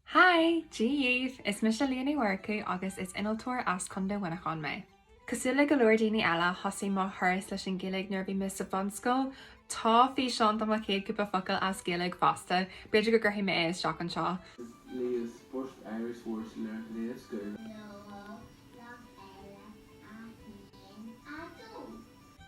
Hi! Dia dhíbh! Is mise Liadh Ní Mhurchú agus is innealtóir as Contae Mhuineacháin mé. Cosúil le go leor daoine eile, thosaigh mo thuras leis an Ghaeilge nuair a bhí mé sa bhunscoil. Tá físeán de mo chéad chúpla focal as Gaeilge fosta, b'fhéidir go gcuirfidh mé é isteach anseo. Is Liadh Sport Irish Words Learned Day of School. Seoladh Bloc Eile 1 2.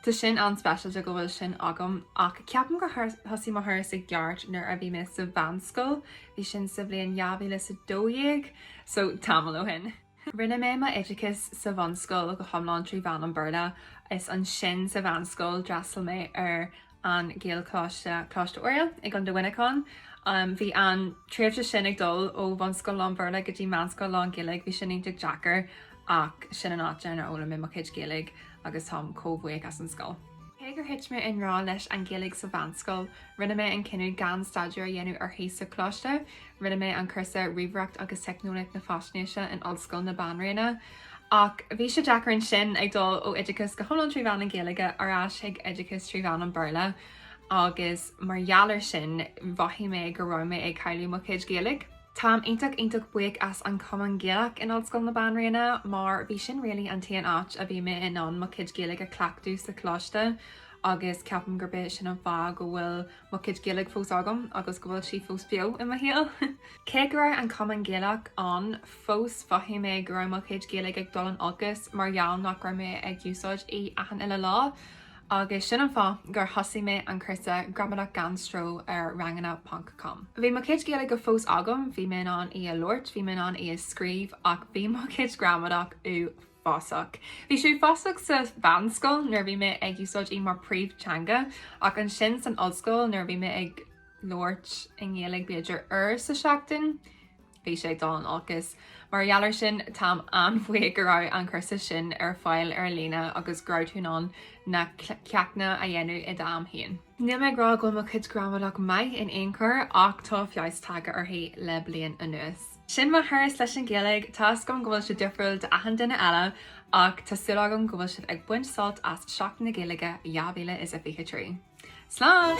Tá sin an-speisialta go bhfuil sin agam ach ceapaim gur thosaigh mo thuras i gceart nuair a bhí mé sa mheánscoil, bhí sin sa bhliain 2012, so tamall ó shin. Rinne mé m'oideachas sa bhunscoil go hiomlán trí mheán an Bhéarla, is ansin sa mheánscoil d'fhreastail mé ar an Gaelcholáiste, Coláiste Oiriall, i gContae Mhuineacháin. Bhí an tréimhse sin ag dul ó bhunscoil lán-Bhéarla go dtí meánscoil lán-Ghaeilge, bhí sin iontach deacair ach sin an áit ar fhoghlaim mé mo chuid Gaeilge agus táim chomh buíoch as an scoil. Cé gur thit mé i ngrá leis an Ghaeilge sa mheánscoil, rinne mé an cinneadh gan staidéar a dhéanamh uirthi sa choláiste. Rinne mé an cúrsa Ríomhaireacht agus Teicneolaíocht na Faisnéise in Ollscoil na Banríona, Ach bhí sé deacair ansin, ag dul ó oideachas go hiomlán trí mheán na Gaeilge ar ais chuig oideachas trí mheán an Bhéarla agus mar gheall ar sin, mhothaigh mé go raibh mé ag cailleadh mo chuid Gaeilge. Táim iontach iontach buíoch as an Cumann Gaelach in Ollscoil na Banríona mar bhí sin really an t-aon áit a bhí mé in ann mo chuid Gaeilge a chleachtadh sa choláiste agus ceapaim gurb é sin an fáth go bhfuil mo chuid Gaeilge fós agam agus go bhfuil sí fós beo i mo shaol. Cé go raibh an Cumann Gaelach ann fós mhothaigh mé go raibh mo chuid Gaeilge ag dul in olcas mar gheall nach raibh mé ag úsáid í achan uile lá agus sin an fáth gur thosaigh mé an cúrsa Gramadach Gan Stró ar ranganna ponc com. Bhí mo chuid Gaeilge fós agam, bhí mé in ann í a labhairt, bhí mé in ann í a scríobh ach bhí mo chuid gramadach ua fásach. Bhí sé uafásach sa mheánscoil nuair a bhí mé ag úsáid í mar príomh-theanga ach ansin san ollscoil nuair a bhí mé ag labhairt i nGaeilge b'fhéidir uair sa tseachtain, bhí sé ag dul in olcas. Mar gheall ar sin, táim an-bhuíoch go raibh an cúrsa sin ar fáil ar líne agus go raibh tú in ann na ceachtanna a dhéanamh i d'am féin. Níl mé ag rá go bhfuil mo chuid gramadach maith in aon chor ach tá feabhas tagtha uirthi le bliain anuas. Sin mo thuras leis an Ghaeilge, tá a fhios agam go bhfuil sé difriúil d'achan duine eile ach tá súil agam go bhfuil sibh ag baint sult as Seachtain na Gaeilge 2023. Slán!